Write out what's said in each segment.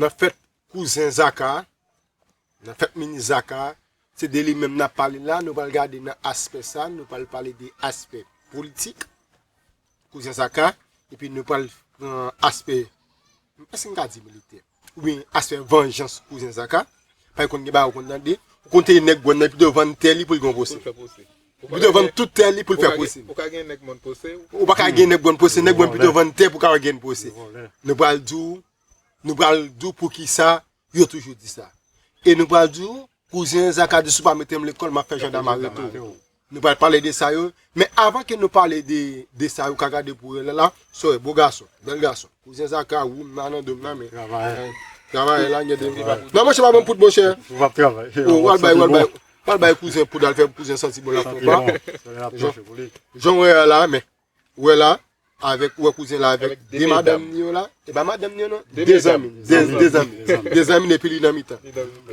Nan fèt kouzen Zaka, nan fèt minis Zaka, se de li menm n ap pale la, nou pral gade nan aspè sa, nou pral pale de aspè politik kouzen Zaka, epi nou pral pran aspè, èske m ka di militè? Wi, aspè vanjans kouzen Zaka, paske konn gen bagay ou konn tande, ou konn teye nèg Gwàn nan epi li te vann tè li pou l gen yon pwosè. Li te vann tout tè li pou l fè pwosè. Ou pa ka gen nèg Gwàn pwosè, nèg Gwàn pito vann tè pou l ka gen pwosè. Nou pral di w Nou pral di w poukisa yo toujou di sa. E nou pral di w kouzen Zaka di si w pa mete m lekòl m ap fè jandam arete w. Nou pral pale de sa yo. Men avan ke nou pale de sa yo ka gade pou Renel la, Soeur, beau garçon, bel garçon. Kouzen Zaka woum la nan do m nan men. Travayè. Travayè la gen de m. Nan monchè pa ban poud monchè. Ou pa travay. Ou al bay, ou al bay. Ou al bay kouzen poud al fè pou kouzen santi bon la. Santi bon. Jan w wè a la men. wè la avèk ou wè kouzen la avèk 2 madanm ni yo la e pa madanm ni yo non 2 zanmi 2 zanmi 2 zanmi epi li nan mitan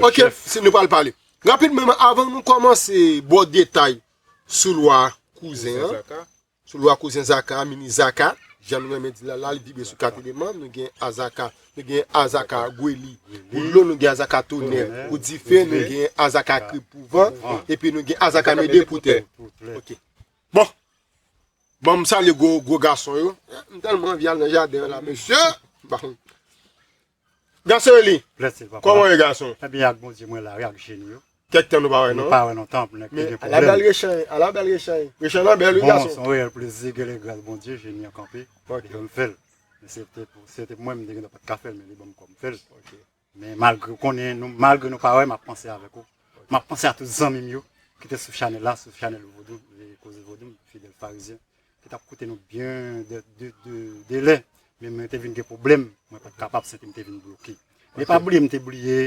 ok nou pral pale rapidman men avan nou kòmanse bon detay sou lwa kouzen an sou lwa kouzen zaka a mini zaka jan nou renmen di l la la li vibre sou 4 eleman nou gen azaka nou gen azaka gweli pou dlo nou gen azaka tonè pou dife nou gen azaka krib pou van epi nou gen azaka mede pou tè ok Bon Banm salye gwo gwo gason yo. M telman anvi al nan jaden an la mesye. Gason eli Koman ye gason. Mwen byen ak Bondye mwen la wi ak jeni yo. Kek tan nou pa we non. Nou pa we lontan pou nèg te gen pwoblem. Ala bel rechany ala bel rechany. Rechany lan bel wi gason. Bon son reyel plezi gele gras Bondye jeni an kanpe. Li fem fel. Se te pou mwen m te gentan pat ka fel men li banm kom fel. Men malgre ou konnen nou malgre nou pa wè map panse avèk ou map panse a tout zanmim yo ki te sou chanèl la sou chanèl vodou koze vodou fidèl farizyen ki tap koute nou byen de de de delè men mwen te vin gen pwoblèm mwen pat kapab se kem te vin bloke men pa bliye mte bliye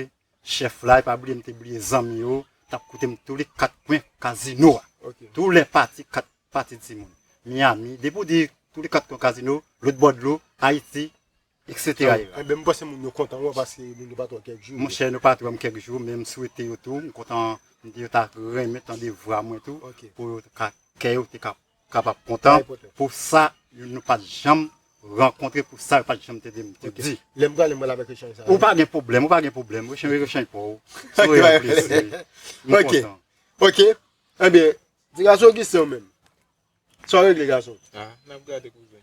chèf la pa bliye mte bliye zanmi yo tap koute m tou li kat kwen kazino a tou lè pati kat pati timoun miyami depi w di tou li kat kwen kazino lout bò dlo ayiti Etc yo. Enben m panse moun yo kontan wè paske moun yo pa t wè w kèk jou. Monchè nou pa t wè m kèk jou men m swete yo tou m kontan m di yo ta renmen tande vwa mwen tou pou yo t ka kè yo te ka kapab kontan pou sa nou pa t janm rankontre pou sa yo pa t janm tande m te di. Lè m prale m pral avèk echanj sa yo. Ou pa gen pwoblèm, ou pa gen pwoblèm. Echanj yo echanj pa w. Sou e an plis wi. M kontan. Ok. Enben, ti gason Augustin ou menm? Sa w regle gason? Ah, n ap gade kouzen.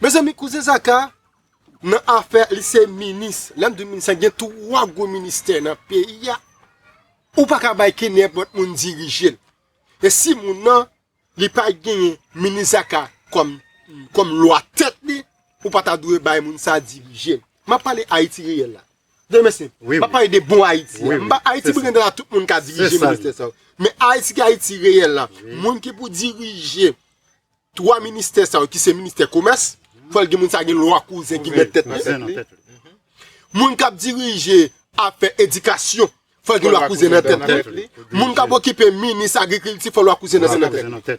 Mezanmi kouzen zaka nan afè li se minis lèm di minis gen 3 gwo ministè nan peyi a ou pa ka bay ke nenpòt moun dirije l e si moun nan li pa genyen minis zaka kòm kòm lwa tèt li ou pa ta dwe bay moun sa dirije l map pale ayiti reyèl la byen mèsi map pale de bon ayiti m pa ayiti pou gen de la tout moun ka dirije ministè sa yo men ayiti ki ayiti reyèl la moun ki pou dirije 3 ministè sa yo ki se ministè komès, fòl gen moun sa gen lwa kouzen ki mèt tèt li. Moun kap dirije afè edikasyon, fòl gen lwa kouzen nan tèt li. Moun kap okipe minis agrikilti fòl lwa kouzen nan tèt li.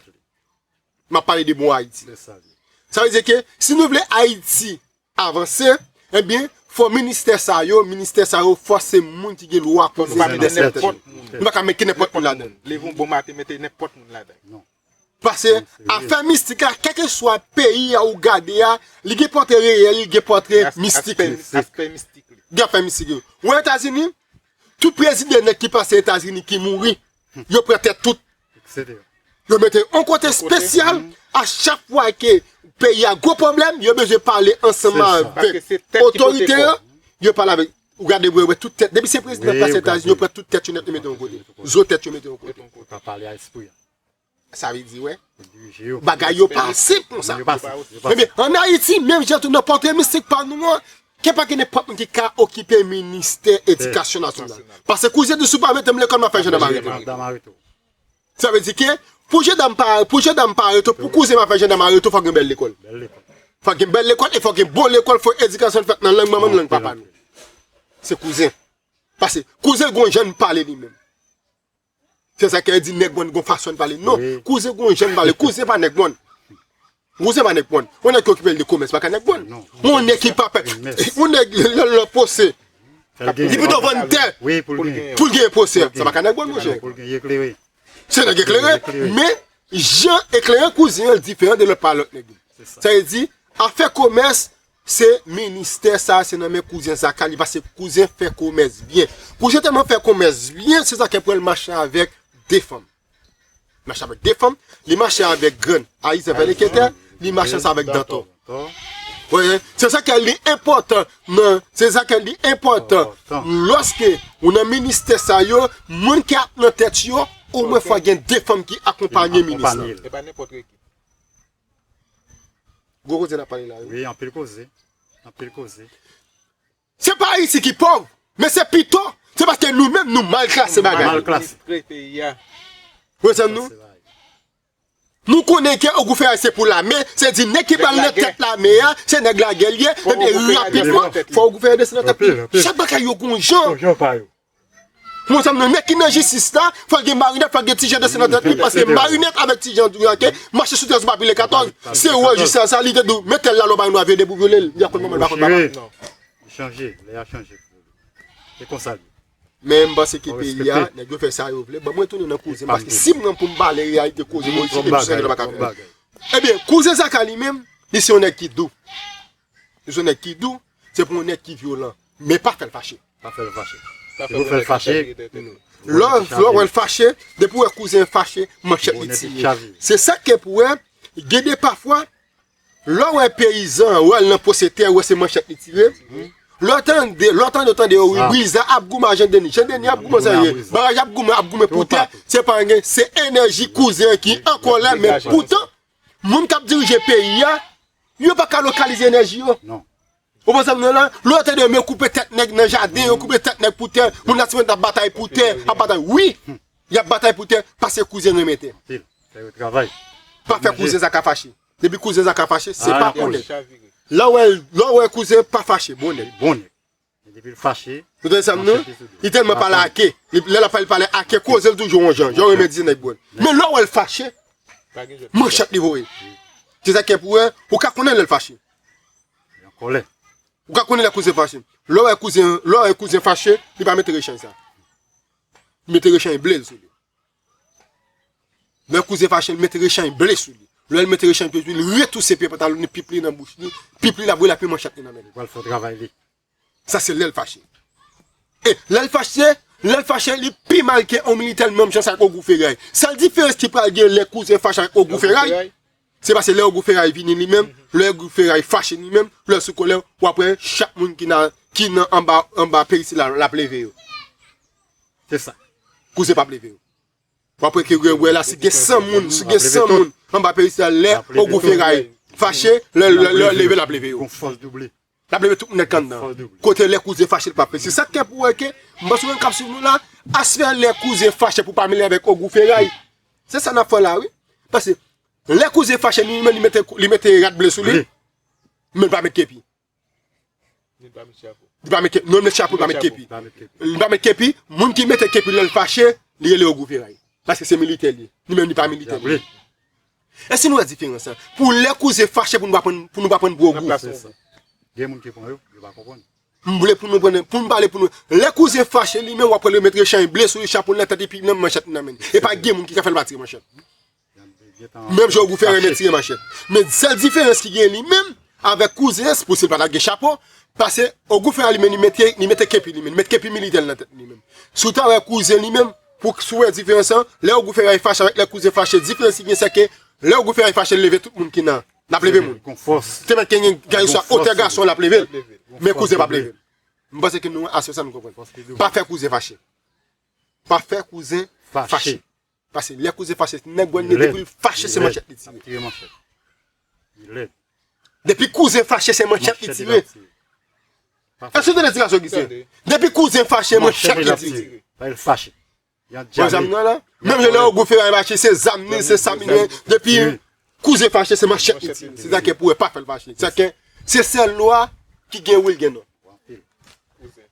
Map pale de bon Ayiti. Sa vle di ke si nou vle Ayiti avanse ebyen fò ministè sa yo ministè sa yo fò se moun ki gen lwa pou yo mete nenpòt moun nou paka mete nenpòt moun ladann leve yon bon maten mete nenpòt moun ladann pase afè mistik la kèlkeswa peyi a ou gade a li gen pòtre reyèl li gen pòtre mistik li gen afè mistik yo ou wè etazini tout prezidan nèt ki pase etazini ki mouri yo pran tèt tout, yo mete on kote spesyal, a chak fwa ke peyi a gwo pwoblèm, yo bezwen pale ansanman avèk otorite yo, yo pale avèk, ou gade bwe wè tout tèt, depi se prezidan plas Etazini, yo pran tout tèt yo nèt yo mete on kote, zo tèt yo mete on kote. Sa vle di wè, bagay yo pa senp konsa. Ebyen, an Ayiti, menm jan tou nan pòtre mistik pa nou an, gen pa gen nenpòt moun ki ka okipe ministè edikasyon nasyonal. Pase kou je di si w pa mete m lekòl m ap fè jandam arete w. Sa vle di ke pou jandam pa arete w, pou kouzen m ap fè jandam arete w fòk gen bèl lekòl. Fòk gen bèl lekòl e fòk gen bon lekòl, fòk edikasyon l fèt nan lang manman n, lang papa n. Se kouzen. Pase kouzen gon jan l pale li menm. Se sa kè di nèg mòn gon fason li pale. Non, kouzen gon jan li pale. Kouzen pa nèg mòn. Kouzen pa nèg mòn. Yon nèg ki okipe li de komès pa ka nèg mòn. Yon nèg ki pa pè. Yon nèg lè l an pose. Li pito vann tè. Pou l genyen pose. Sa pa ka nèg mòn monchè. Se nèg eklere. Men, jan eklere kouzen an diferan de lòt pa lòt nèg yo. Sa vle di, afè komès, Se ministè sa se nan men kouzen zaka li pase kouzen fè komès byen kouzen tèlman fè komès byen se zaka pranl mache avèk 2 fanm li mache avèk 2 fanm li mache avèk grann ayizan vèlè kètè li mache ansanm avèk dantò se zaka li enpòtan nan se zaka li enpòtan lòske ou nan ministè sa yo moun ki ap nan tèt yo omwen fwa gen 2 fanm ki akonpanye minis la. Gwo koze nap pale la wi. Wi anpil koze, anpil koze. Se pa ayiti ki pòv men se pito se paske nou menm nou mal klase bagay. Nou mal administre peyi a. Wezan nou. Nou konnen gè ogou fè a se pou lame, se di nèg ki pral nan tèt lame a, se nèg lagè li ye, ebyen rapidman fò ogou fè a desann nan tèt li. Chak bagay yo gon jan. Mwen fèm nan nèg ki nan jistis la fòl gen marinèt fòl gen tijan dese nan tèt li paske marinèt avèk tijan dyanke mache sou 13 mabile 14 se wè jis la sa li te dou metel la lò bay yon nwa vye de pou vyolel li akon manman li bakon papa non li chanje lè a chanje se konsa li men mpanse ke peyi a nèg yo fè sa yo vle banm retounen nan kouzem paske sim nan poum pale reyalite koze mwen jis emisyon yo baka fèl ebyen kouzen zaka li menm li se yon nèg ki dou. Bezwen nèg ki dou, se pou yon nèg ki vyolan, men pa fèl fache. Pa fèl fache. Se pou fèl fache. Lò ou wèl fache, depi ou wè kouzen fache, manchèt li tire. Se sa ki fè pou wè, gen de pafwa, lò ou wè peyizan, ou wè l nan pwose tè, ou wè se manchèt li tire, lò ou tande, lò ou tande ou tande yo, wi wi iza ap goumen a jan deni, jan deni ap goumen sa ye, baraj ap goumen, ap goumen pou tè, se pa anyen, se enèji kouzen ki an kòlè, men poutan, Moun kap dirije peyi a, yo pa ka lokalize enèji yo. Non. Ou konprann sa mwen la? Lè yo te de men koupe tèt nèg nan jaden yo, koupe tèt nèg pou tè, moun la siman tap batay pou tè, ap batay. Wi! Yap batay pou tè, pase kouzen renmen tè. Anpil. Fè yo travay. Pa fè kouzen sa ka fache. Depi kouzen sa ka fache, se pa bon nèg. Lè w wè kouzen pa fache, bon nèg. Bon nèg. Depil fache. Ou tande sam diw? Li telman pale ake. Lè lap pale li pale ake kozel toujou yon jan. Jan remèt di nèg bon. Men lè ou wèl fache. Manchet li voye. Se sa kep ou wè. Ou ka konnen lèl fache. Yon kòlè. Ou ka konnen lè kouzen fache. Lè ou wè kouzen. Lè ou wè kouzen fache. Li pa mete rechany sa. Li mete rechany blel sou li. Lè kouzen fache l met rechany ble sou li. Lè l met rechany ble sou li, li retouse pye pantalon li, pip li nan bouch li, pip li la bouyi la pi manchet li nan men li pou al fè travay li. Sa se lè l fache. E lè l fache, lè l fache li pi mal ke yon militè l menm jan sa ak Ogou Feray. Sèl diferans ki pral gen lè kouzen fache ak Ogou Feray, Se pase lè ogou feray vini li menm, lè ogou feray fache li menm, lè l sou kolè, w ap wè chak moun ki nan anba anba peyi sila l ap leve yo. Se sa. Kouzen p ap leve yo. W ap wè ke wè la si gen 100 moun, si gen 100 moun anba peyi sila l lè ogou feray fache, lè l leve l ap leve yo. Lap leve tout nèg anndan. Kote lè kouzen fache li pa pèse. Sak kè pou wè ke m panse moun kap swiv nou la as fè lè kouzen fache pou pa mele avèk ogou feray. Se sa nap fè la wi. Pase lè kouzen fache ni menm li mete rad ble sou li. Men li pa met kepi. Ni li pa met chapo. Li pa met kepi. Non li met chapo li pa met kepi. Li pa met kepi. Moun ki mete kepi lèl fache li rele ogou feray. Pase se militè li. Ni menm li pa militè. Èske nou wè diferans la? Pou lè kouzen fache pou nou pa pran gwo gou. Gen moun ki pran yo, yo pa konprann. M vle pou nou pran, pou m pale pou nou. Lè kouzen fache li menm w ap wè l remèt rechany ble sou li, chapo l nan tèt epi nan manchèt li nan men li. E pa gen moun ki ka fè l pa tire manchèt. Menm jan Ogou fè renmen tire manchèt. Men sèl diferans ki gen li menm avèk kouzen an, se pou si l pa ta gen chapo, pase Ogou fè a li menm li mete kepi li menm, li mete kepi militè l nan tèt li menm. Si w ta wè kouzen li menm. Pou k sou wè diferans lan, lè ogou fèray fache avèk lè kouzen fache, diferans ki gen sè ke lè ogou fèray fache l leve tout moun ki nan, l ap leve moun. Te mèt ke gen gaye sou otè gason l ap leve l, men kouzen p ap leve l. M panse ke nou aswe sa nou konprann. Pa fè kouzen fache. Pa fè kouzen fache. Pase lè kouzen fache, nèg wè nèg depi l fache se manchèt li tire. Li lèd. Depi kouzen fache se manchèt li tire. Èske ou tande tirasyon Gisten? Depi kouzen fache manchèt li tire. Lè l fache. Wè zam nan la? Menm lè Ogou Feray fache se zam li, se sa li gen. Depi kouzen fache se manchèt li tire. Se sa kè pou wè pa fè l fache. Se sèl lwa ki gen wi l gen non.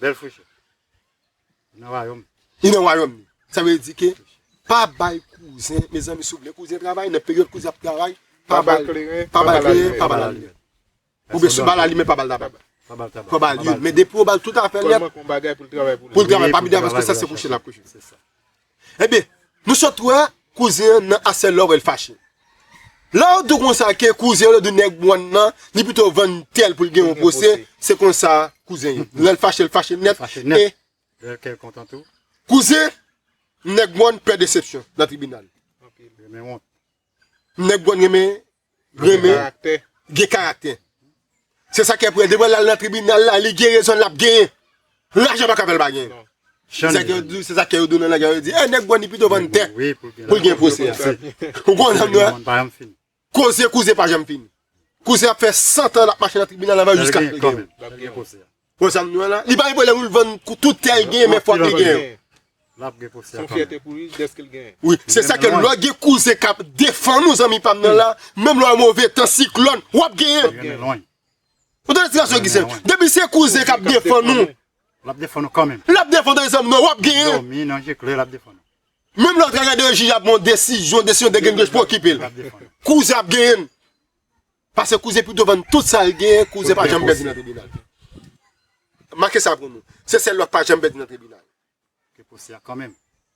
Bèl frechè nan wayòm li. Li nan wayòm li. Sa vle di ke pa bay kouzen, mezanmi si w vle kouzen travay, nan peryòd kouzen ap travay, pa ba l kleren, pa ba l kleren, pa ba l alimè. Oubyen si w ba l alimè, pa ba l tabak. Pa ba l youn. Men depi w ba l tout afè l nèt, pou l travay pa midi a paske sa se kouche l ap kouche. Ebyen Nou sot wè kouzen an nan asè love el fache Lèw dou konsa ke kouzen an lèw dou nèg one nan li pito vann tèl poul gen yon pwose se konsa kouzen ye lèl fache el fache nèt e Lèl kèl kontan tou Kouzen nèg one pè desepsyon nan tribinal Renmen wont Nèg one renmen renmen gen karaktè se sa ki ap wè devan lal nan tribunal la li gen rezon lap gen lajan pa ka fèl pa gen se sa kè yo dou nan lagè yo di e nèk boni pito vann tè poul gen pwosè ou kon nan nou a koze kouze pa janm fini kouze ap fè 100 tan lap mache nan tribunal la va jiska Bon sa m di w la, li pa gen pwoblèm pou l vann tout tè l genyen menm fwa li genyen. Se yon fyète pou li dèske l genyen. Wi, se sa ke lò gen kouzen k ap defann ou zanmi pa m nan la, menm lò move tan, siklòn, w ap genyen. Ou tande ti gason Gisen? Depi se kouzen k ap defann ou. L ap defann ou kanmenm. L ap defann ou tande zanmi nan, w ap genyen. Nan dòmi, nan je klè, l ap defann ou. Menm lò w ta gade yon jij ap ban yon desizyon, desizyon degennge pou okipe l. Kouzen ap genyen. Pase kouzen pito vann tout sal genyen kouzen pa janm pèdi nan tribinal make sa pou nou se sèl lwa k pa janm pèdi nan tribinal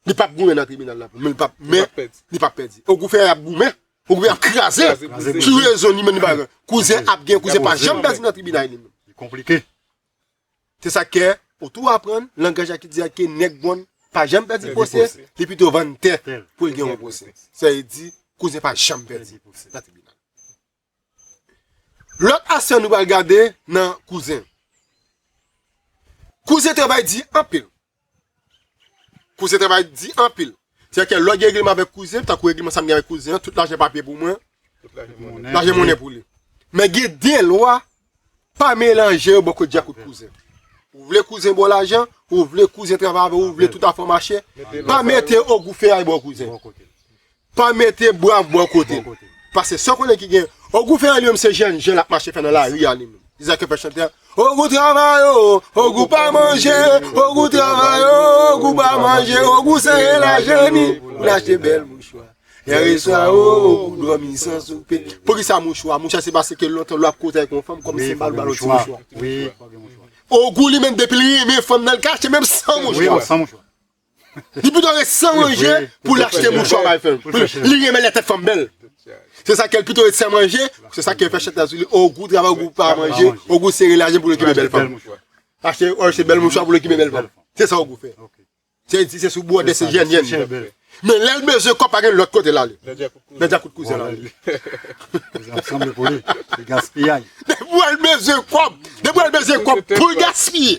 li pap goumen nan tribinal nan pou men li pap pèdi ogou fè yap goumen ogou yap kraze kouzen ap gen kouzen pa janm pèdi nan tribinal li konplike. Se sak kè ou tou aprann langaj a ki di a ke nèg bon pa janm pèdi pwosè, li pito vann tè pou l gen yon pwosè. Sa vle di kouzen pa janm pèdi pwosè nan tribinal. Lòt asè nou pral gade nan kouzen. Kouzen travay di anpil. Kouzen travay di anpil. Se a ke lò gen regleman avèk kouzen, tankou regleman sa m gen avèk kouzen an, tout lajan papye pou mwen, lajan monnen pou li. Men gen de lwa, pa melanje yo bò kot dja kot kouzen. Ou vle kouzen ba w lajan, ou vle kouzen travay avè w, ou vle tout afè w mache, pa mete ogou feyay bò kouzen. Pa mete brav bò kote l. Pase san konnen ki gen. O gou fè an li menm se jèn jèn lap mache fè nan lari a li menm. Izaak yo fè chante a. O gou travay o, o gou pa manje, o gou travay o, o gou pa manje, o gou sere lajan ni pou l achte bèl mouchwa. Yèreswa o, o gou dòmi san soupe. Poukisa mouchwa? Mouchwa se pase ke lontan lò ap koze ak yon fanm kòm se bal ou ba l yon ti mouchwa. O gou li menm depi l renmen fanm nan l ka achte menm san mouchwa. Li pito ret san manje pou li achte mouchwa bay fèm. Li renmen lè tèt fanm bèl. Se sa k fè li pito ret san manje, se sa k fè chantè a sou li, ogou travay ogou pa manje, ogou sere lajan pou l okipe bèl fanm. Achte bèl mouchwa pou l okipe bèl fanm. Se sa ogou fè. Se di se sou bwòdè se jèn jèn li. Men lè l bezwen kòb pa gen lòt kote l ale. Nan djakout kouzen l ale. Depi w al bezwen kòb pou l gaspiye.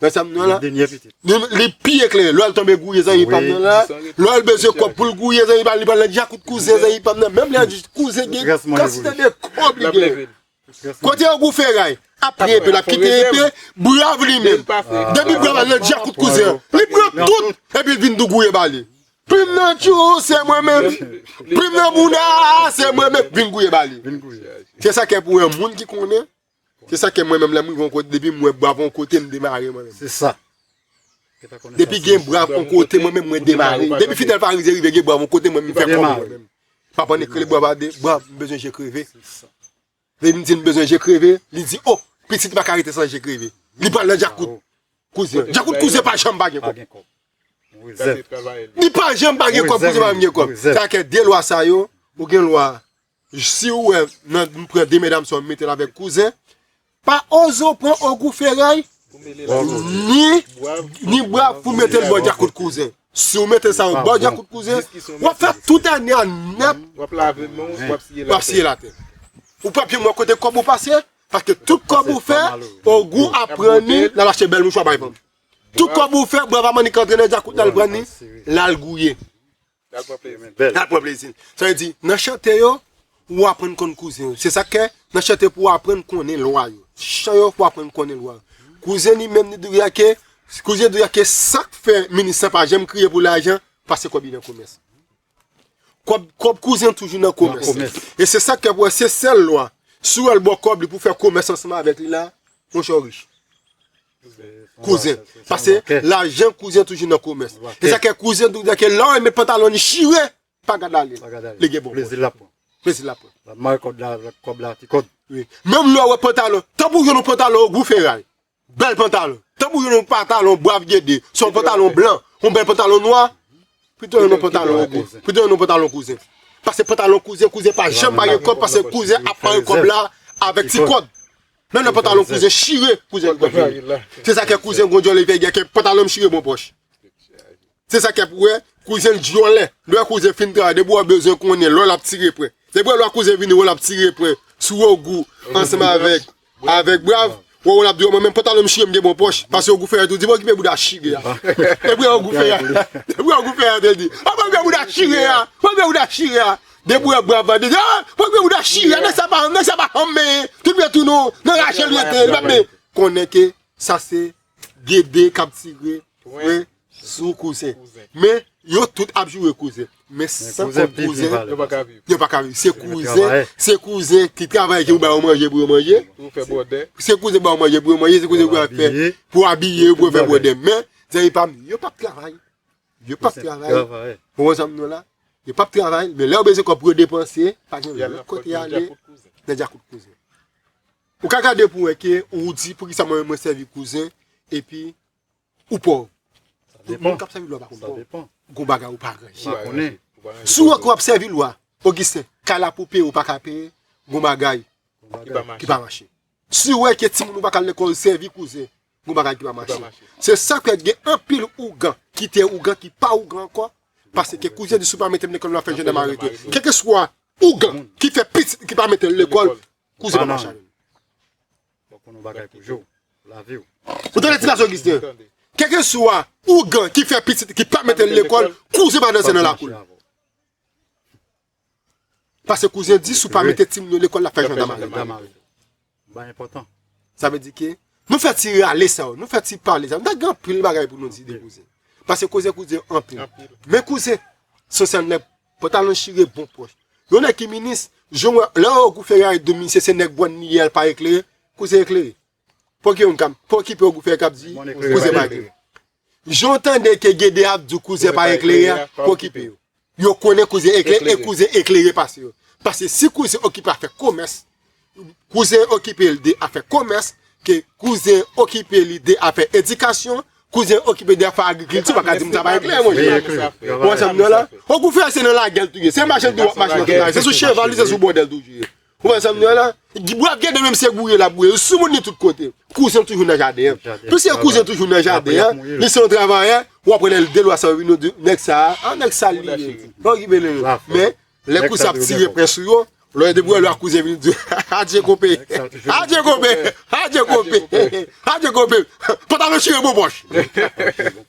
Nan sa m nan la. Denyè pitit. Li pi eklere. Lò l tonbe gouye zanmi pa m nan la. Lò l bezwen kòb pou l gouye zanmi pa m li pral nan djakout kouzen zanmi pa m nan. Menm lè di kouzen gen kantite de kòb li genyen. Kote yo gou feray. Ap pran enpe l ap kite enpe. Brav li menm. Depi brav al nan djakout kouzen an. Li pran tout epi l vin tou gouye ba li. Plim nan tchou se mwen menm. Plim nan bounda se mwen menm. Vin gouye ba li. Se sa k fè pou w wè moun ki konnen. Se sa ke mwen menm lèm rive yon kote depi mwen brav yon kote m demare mwen menm. Se sa. Depi gen brav yon kote mwen menm mwen demare. Depi fidèl farize rive gen brav yon kote mwen menm fè kòm mwen menm. Pap an ekrele brav a de brav m bezwen je kreve. Depi m di m bezwen je kreve li di oh pitit m pa ka rete san je kreve. Li pral nan djakout kouzen. Djakout kouzen pa janm pa gen kòb. Li pa janm pa gen kòb kouzen pa janm gen kòb. Sa ke de lwa sa yo ou gen lwa. Siw wè m pran de medam sa yo m metel avèk kouzen pa oze w pran ogou feray ni bwav pou metel bò djakout kouzen siw mete sa yo bò djakout kouzen wap fè tout ane a nèt wap lave menw wap siye latè ou pap janm wè kote kòb ou pase paske tout kòb ou fè ogou ap pran ni lal achte bèl mouchwa bay fanm tout kòb ou fè bwav a mannik antre nan djakout lal pran ni lal gouye. Nal pran plezi. Nal pran plezi. Sa vle di, nan chante yo, ou aprann konn kouzen yo. Se sak fè, nan chante yo pou w aprann konnen lwa yo. Chan yo pou w aprann konnen lwa yo. Kouzen li menm li dwe ake, kouzen dwe ake sak fè minis lan pa janm kriye pou lajan, pase kòb li nan komès. Kòb, kòb kouzen toujou nan komès. Nan komès. E se sak fè pou wè se sèl lwa. Si w wè l ba w kòb li pou w fè komès ansanm avèk li la, monchè ou rich. Kouzen, pase lajan kouzen toujou nan komès. E sa kè kouzen doudè kè lò e met pantalon ni chire, pa gad ale. Pa gad ale. Li gen bon. Plezi la pran. Plezi la pran. La mare kòd la, kòb la ti kòd. Wi. Menm lò wè pantalon, tan pou jwenn yon pantalon gou feray. Bèl pantalon. Tan pou jwenn yon pantalon bwav gede, se yon pantalon blan, yon bèl pantalon nwa, pito jwenn yon pantalon ogo, pito jwenn yon pantalon kouzen. Pase pantalon kouzen, kouzen pa janm mare kòb pase kouzen ap mare kòb la avèk ti kòd. Nan nan pantalon kouzen chire kouzen bwè vini se sa kè kouzen gwo dyòlè te gen kè pantalon m chire bon pòch se sa kèp wè kouzen dyòlè lè kouzen fin travay depi wè bezwen konnen lò lap tire pwen depi wè lò kouzen vini wè lap tire pwen sou ogou ansanm avèk avèk brav wè wè lap di wè mwen menm pantalon m chire m gen bon pòch pase ogou fèyè tou di mwen kipe bouda chire a depi wè ogou fèyè depi wè ogou fèyè te di mwen kipe bouda chire a mwen kipe bouda chire a De bouda bwa vande di ah pran gwo bouda chire a nèg sa pa nèg sa pa hanm men tout vre tou non nan rachel li rete li pap men konnen ke sa se gede kap tire pwen sou kouzen men yo tout ap joure kouzen men san kont kouzen yo pa ka viv yo pa ka viv se kouzen se kouzen ki travay ki pou ba yo manje pou yo manje pou fè bwòdè se kouzen pou ba yo manje pou yo manje se kouzen pou yo fè pou abiye pou yo fè bwòdè men zanmi pam yo pap travay. Yo pap travay pou yon zanm nou la. Yo pap travay, men lè ou bezwen kòb pou yo depanse, pa gen lòt kote yal ye, nan djakout kouzen. Ou ka gade pou wè ke ou di pou ki sa mwen mwen sèvi kouzen, epi ou pòv. Tout moun kap sèvi lwa pa konn pòv. Gon bagay ou pa ranje. Si ou wè ke wap sèvi lwa, Ogisten, kay la pou peye ou pa ka peye, gon bagay ki pa mache. Si ou wè ke timoun ou pa kal lekòl sèvi kouzen, Gon bagay ki pa mache. Se sak fè gen anpil ougan ki te ougan ki pa ougan ankò. Paske kouzen di si w pa mete m lekòl m ap fè jandam arete m. Kèlkeswa ougan ki fè pitit li ki pa mete l lekòl, kouzen pa mache avè l. Ou tande ti gason Ogisten? Kèlkeswa ougan ki fè pitit li ki pa mete l lekòl, kouzen pa danse nan lakou l. Pase kouzen di si w pa mete timoun yo lekòl l ap fè jwèt damare. Sa vle di ke nou fè ti rale sa yo, nou fè ti pale sa yo. Nou ta gen anpil bagay pou nou di de kouzen. Pase kouzen kou di anpil. Men kouzen se yon sèl nèg pantalon chire bon pòch. Yon nèg ki minis, lè Ogou Ferayèt vin minis se nèg bwàn li ye a l pa eklere, kouzen eklere. Pou ki moun kap pou ki pè kap di kouzen pa eklere. Jan w tande ke Gede ap di kouzen pa eklere a, pou ki pè yo. Yo konnen kouzen eklere e kouzen eklere pase yo. Pase si kouzen okipe afè komès, kouzen okipe li de afè komès, ke kouzen okipe li de afè edikasyon, kouzen okipe li de afè agrikilti, ou pa ka di moun sa pa eklere mon chè. Ou konprann sa m di w la? Ou kou fè se nan lagel tou ye. Se machann di w ap mache nan tout lari. Se sou cheval ou se sou bòdèl toujou ye. Ou wè sa m di a la? Bwav Gede menm se boure l ap boure. L soumoun li tout kote. Kouzen l toujou nan jaden an. Piske kouzen l toujou nan jaden an, li se yon travayè, w ap wè lè l delwa sa yo vin yo di nèg sa a, a nèg sal li ye. Bon ki bele yo. Men, lè kouzen ap tire pwen sou yo, lò yo depi wè lwa kouzen vin di, Adje konpe! Adje konpe! Adje konpe! Adje konpe! Pantalon chire bobòch!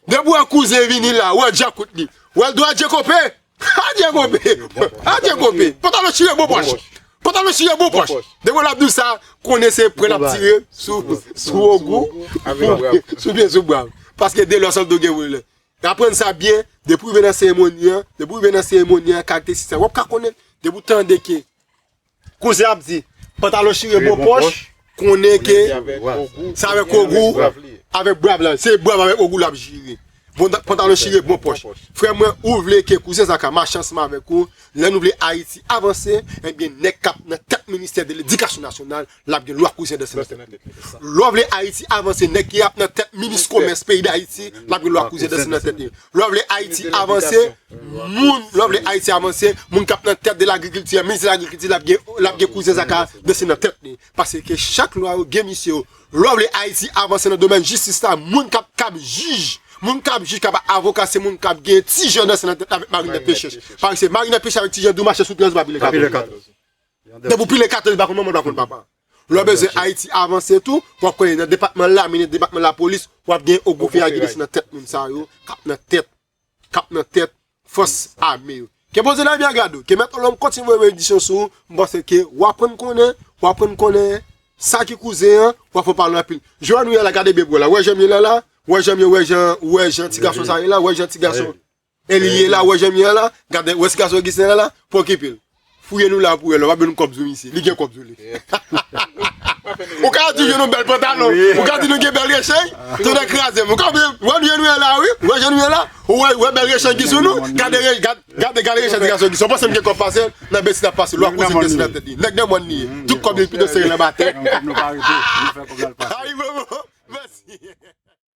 Depi w wè kouzen vini la, w wè djakout li, w wè l di w adje konpe! Adye gobe! Adye gobe! Pantalon chire bon pòch! Pantalon chire bon pòch! Depi lap dou sa, konnen se pran lap tire sou ogou, sou byen sou brav. Paske de lò san do gen volè. Aprann sa byen, depi ou rive nan seremoni an, depi ou rive nan seremoni an, karakteristik sa, wap ka konnen. Depi ou tande ke. Kouzen ap di pantalon chire bon pòch konnen ke se avèk ogou avèk brav la se brav avèk ogou lap jire pantalon chire bon pòch frè mwen ou vle ke kouzen zaka mache ansanm avèk ou lè nou vle ayiti avanse ebyen nèg kap nan tèt ministè de ledikasyon nasyonal lap gen lwa kouzen danse nan tèt li lè ou vle ayiti avanse nèg ki ap nan tèt minis komès peyi dayiti lap gen lwa kouzen danse nan tèt li lè ou vle ayiti avanse Moun lovely Haiti avanse moun kap nan tèt de lagrikilti an minis lagrikilti lap gen lap gen kouzen sa ka danse nan tèt li pase ke chak lwa yo gen misye yo lovely Haiti avanse nan domèn jistis la moun kap kap jij moun kap jij kap avoka se moun kap gen ti jan danse nan tèt avèk marinèt pechè paske marinèt pechè avèk ti jan dou mache sou 13 pa pile 14 depi ou pile 14 ou pa konn manman ou pa konn papa lò bezwen Haiti avanse tou wap konnen nan depatman lamine depatman lapolis wap gen ogou feyagi danse nan tèt moun sa yo kap nan tèt k ap nan tèt fòs ame yo. Ke Bondye Ebyen Gado, ke Mèt Olonm kontinye voye benediksyon sou ou, m panse ke w aprann konnen, w aprann konnen sa ki kouzen an, w aprann pale anpil. Je an nou ye la gade bebou an la, ou wè jan m ye la la? Ou wè jan m ye, ou wè jan, ou wè jan ti gason sa ye la, ou wè jan ti gason Eli ye la, ou wè jan m ye an la? Gade, ou wè ti gason Ogisten an la? Pwokipe l. Fouye nou la pou wè lè wap jwenn kòb sou misye li gen kòb sou li ou ka di jwenn yon bèl pantalon ou ka di nou gen bèl rechèy tonnè krazem ou konprann wè nou jan nou ye la wi wè jan nou ye la ou wè wè bèl rechèy ki sou nou gade re gad gade gade rechèy ti gason ki sou pansem gen kòb pasel nan besi nap pase lwa koze besi nan tèt li nèg nan mòn li ye tout kòb li pito sere nan batè.